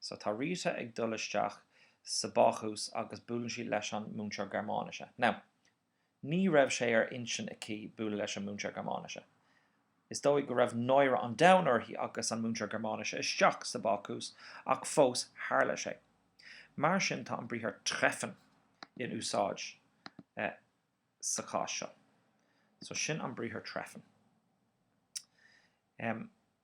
So, tá Rita ag dul isteach sa bácús agus buaileann sí leis an múinteoir Gearmáinise. Now, ní raibh sé ar intinn aici bualadh leis an múinteoir Gearmáinise. Is dóigh go raibh náire an domhain uirthi agus an múinteoir Gearmáinise isteach sa bácús ach fós tharla sé. Mar sin tá an briathar treffen in úsáid sa chás seo. So, sin an briathar treffen.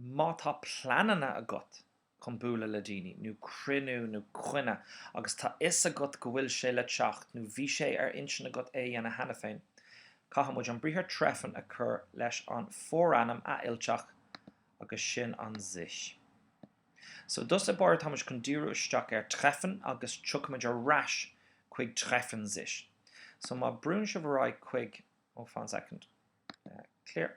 Má tá pleananna agat chun bualadh le daoine, nó cruinniú nó coinne, agus tá fhios agat go bhfuil sé le teacht, nó bhí sé ar intinn agat é a dhéanamh cheana féin, caithfimid an briathar treffen a chur leis an bhforainm athfhillteach agus sin an sich. So i dtús báire táimid chun díriú isteach ar treffen agus tiocfaimid ar ais chuig treffen sich. So má brúnn sibh ar aghaidh chuig, oh fan soicind, clear.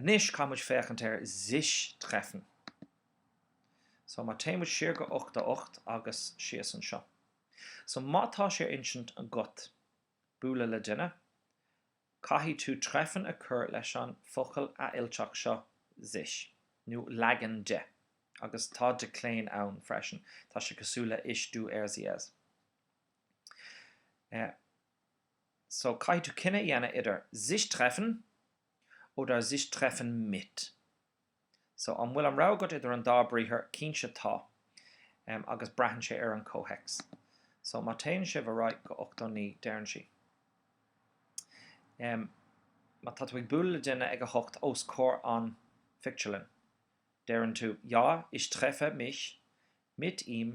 Anois caithfidh muid féachaint ar Sich treffen. So, má téann muid siar go 88 agus síos anseo. So, má tá sé ar intinn agat bualadh le duine, caithfidh tú treffen a chur leis an focal athfhillteach seo sich, nó leagan de. Agus tá decline ann freisin, tá sé cosúil le Ich du er sie es. Eh. so caithfidh tú cinneadh a dhéanamh idir sich treffen oder sich treffen mit so an bhfuil an rogha agat idir an dá briathar cinnte tá em agus braitheann sé ar an comhthéacs so má téann sibh ar aghaidh go 89 deireann sí em má tá tú ag bualadh le duine ag a hocht os comhair an phictiúrlann deireann tú ja ich treffe mich mit ihm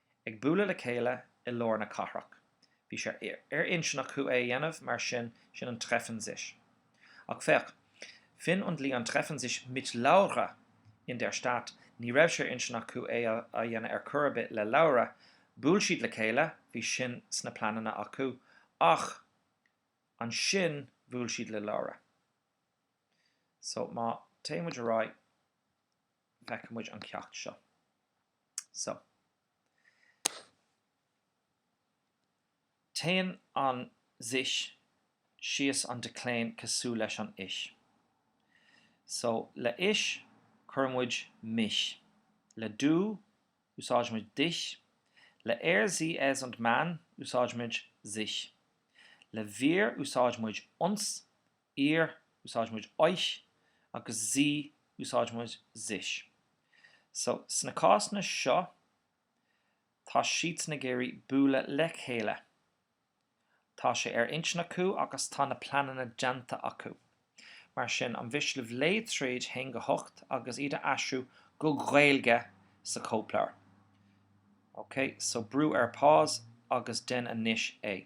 ag bualadh le chéile i lár na cathrach. Bhí sé ar intinn acu é a dhéanamh mar sin, sin an treffen sich. Ach féach, Finn und Leon treffen sich mit Laura in der Stadt, ní raibh sé ar intinn acu é a dhéanamh ar chor ar bith le Laura, bhuail siad le chéile, bhí sin sna pleananna acu, ach ansin bhuail siad le Laura. So, má téann muid ar aghaidh. bhfeicfidh muid an ceacht seo so téann an sich síos an decline cosúil leis an ich so le ich cuireann muid mich le du úsáidimid dich le er sie es und man úsáidimid sich le wir úsáidimid uns ihr, úsáidimid euch, agus sie, úsáidimid sich. So, sna cásanna seo, tá siadsan ag iarraidh bualadh le chéile. Tá sé ar intinn acu agus tá na pleananna déanta acu. Mar sin, an mhiste libh léamh tríd 1 go 8 agus iad a aistriú go Gaeilge sa chóipleabhar. OK, so brú ar pause agus dein anois é.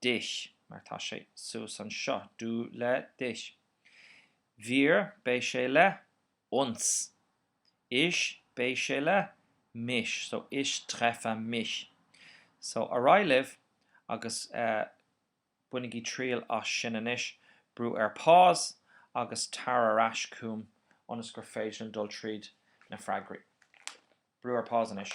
dich, mar tá sé suas anseo, du le dich, wir, beidh sé le uns, ich, beidh sé le mich, so, ich treffe mich, so, ar aghaidh libh agus eh bainigí triail as sin anois, brú ar pause agus tar ar ais chugam ionas gur féidir liom dul tríd na freagraí. Brú ar pause anois.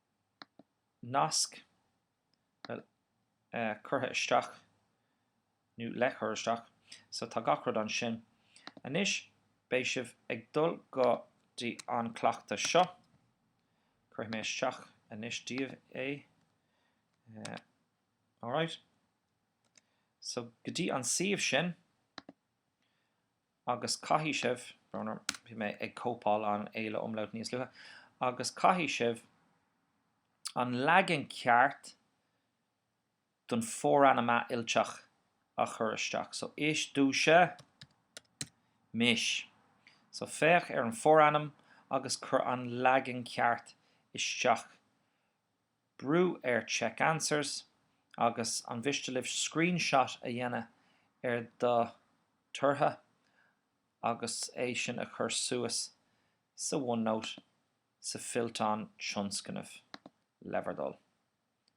nasc curtha isteach, nó le cur isteach, so tá gach rud ansin. Anois beidh sibh ag dul go dtí an cleachtadh seo. Cuirfidh mé isteach anois daoibh é. Alright. So go dtí an suíomh sin. agus caithfidh sibh, brón orm, bhí mé ag cóipeáil an A le umlaut níos luaithe, agus caithfidh sibh an leagan ceart den forainm athfhillteach a chur isteach. So ich dusche mich. So féach ar an forainm agus cuir an leagan ceart isteach brú ar Check Answers agus an mhiste libh screenshot a dhéanamh ar do tortha agus é sin a chur suas sa OneNote sa fillteán tionscnaimh le bhur dtoil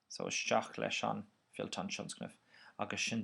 so isteach leis an fillteán tionscnaimh agus sin